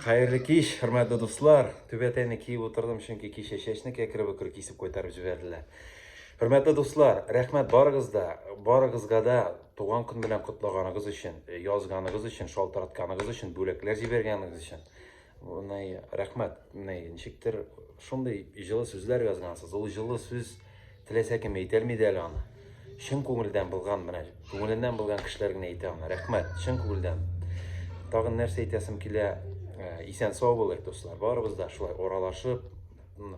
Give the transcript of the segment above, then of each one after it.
Хәерле кич, хөрмәтле дуслар! Түбәтәйне киеп утырдым, чөнки кичә чәчне кәкре-бөкре кисеп кайтарып җибәрделәр. Хөрмәтле дуслар, рәхмәт барыгыз да, барыгызга да туган көн белән котлаганыгыз өчен, э, язганыгыз өчен, шалтыратканыгыз өчен, бүләкләр җибәргәнегез өчен. Менә рәхмәт. Менә ничектер шундый җылы сүзләр язгансыз. Ул җылы сүз Теләсә кем әйтә алмый әле аны. Чын күңелдән булган менә, күңеленнән булган кешеләр генә әйтә аны. Рәхмәт, чын күңелдән. Тагын нәрсә әйтәсем килә? Э, исән сау булыйк, дуслар. Барыбыз да шулай аралашып,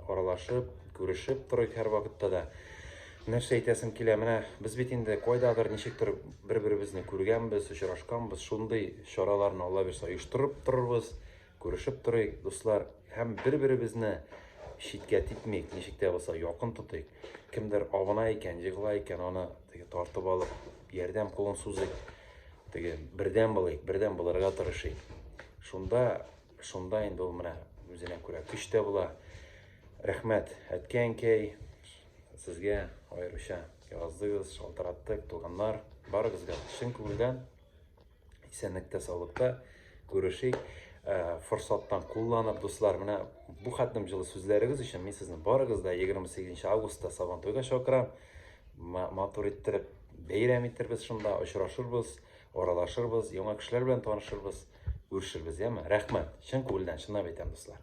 аралашып, күрешеп торыйк һәр вакытта да. Нәрсә әйтәсем килә? Менә без бит инде кайдадыр ничектер бер-беребезне күргәнбез, очрашканбыз. Шундый чараларны Алла бирсә оештырып торырбыз. Күрешеп торыйк, дуслар, һәм бер-беребезне читкә типмик, ничек тә булса якын тотыйк. Кемдер авына икән, егыла икән, аны теге тартып алып, ярдәм кулын сузыйк. Теге бердәм булыйк, бердәм булырга тырышыйк. Шунда, шунда инде ул менә үзенә күрә көч тә була. Рәхмәт, әткәй-әнкәй, сезгә аеруча яздыгыз, шалтыраттык, туганнар, барыгызга чын күңелдән Исәнлектә, саулыкта күрешик. Э, форсаттан кулланып, дуслар, менә бу хәтлем җылы сүзләрегез өчен мин сезне барыгыз да 28 августта Сабантуйга чакырам. Матур иттереп бәйрәм иттербез шунда, очрашырбыз, аралашырбыз, яңа кешеләр белән танышырбыз, күрешербез, яме. Рәхмәт. Чын күңелдән, чынлап әйтәм, дуслар.